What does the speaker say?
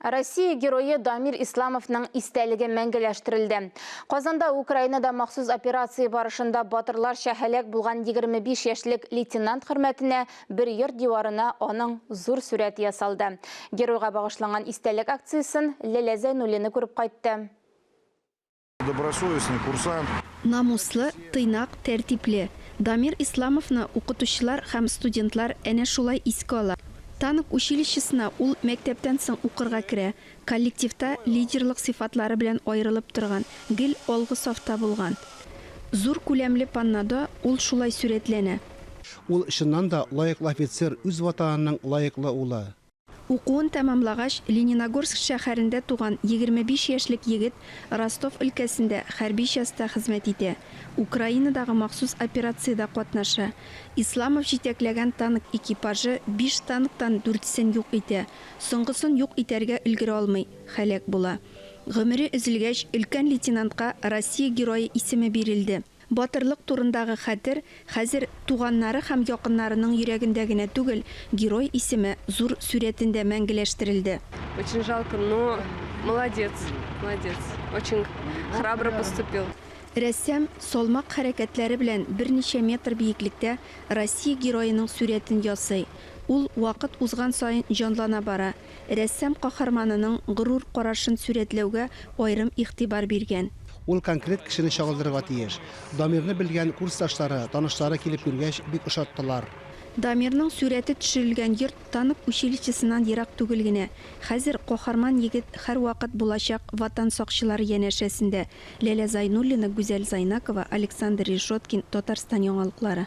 Россия Герое Дамир Исламовның истәлеге мәңгеләштерелде. Казанда Украинада махсус операция барышында батырларча һәлак булган 25 яшьлек лейтенант хөрмәтенә бер йорт диварына аның зур сурәте ясалды. Геройга багышланган истәлек акциясен Ләлә Зәйнуллина күреп кайтты. Добросовестный курсант. Намуслы, тыйнак, тәртипле. Дамир Исламовны укытучылар һәм студентлар әнә шулай искә ала. Танк училищесына ул мәктәптән соң укырга керә, коллективта лидерлык сыйфатлары белән аерылып торган, гел алгы сафта булган. Зур күләмле паннодо ул шулай сурәтләнә. Ул чыннан да лаеклы офицер, үз Ватанының лаеклы улы. Укуын тәмамлагач, Лениногорск шәһәрендә туган егерме биш яшьлек егет Ростов өлкәсендә хәрби частьта хезмәт итә, Украинадагы махсус операциядә катнаша. Исламов җитәкләгән танк экипажы биш танктан дүртсен юк итә, соңгысын юк итәргә өлгерә алмый, һәлак була. Гомере өзелгәч, өлкән лейтенантка Россия Герое исеме бирелде. Батырлык турындагы хәтер хәзер туганнары һәм якыннарының йөрәгендә генә түгел, герой исеме зур сурәтендә мәңгеләштерелде. Очень жалко, но молодец, молодец, очень храбро поступил. Рәссам салмак хәрәкәтләре белән берничә метр биеклектә Россия героеның сурәтен ясый. Ул вакыт узган саен җанлана бара, Рәссам каһарманының горур карашын сурәтләүгә аерым игътибар биргән. Ул конкрет кешене чагылдырырга тиеш. Дамирны белгән курсташлары, танышлары килеп күргәч, бик ошаттылар. Дамирның сурәте төшерелгән йорт танк училищесыннан ерак түгел генә. Хәзер каһарман егет һәрвакыт булачак Ватан сакчылары янәшәсендә. Ләлә Зайнуллина, Гүзәл Зайнакова, Александр Решеткин, Татарстан яңалыклары.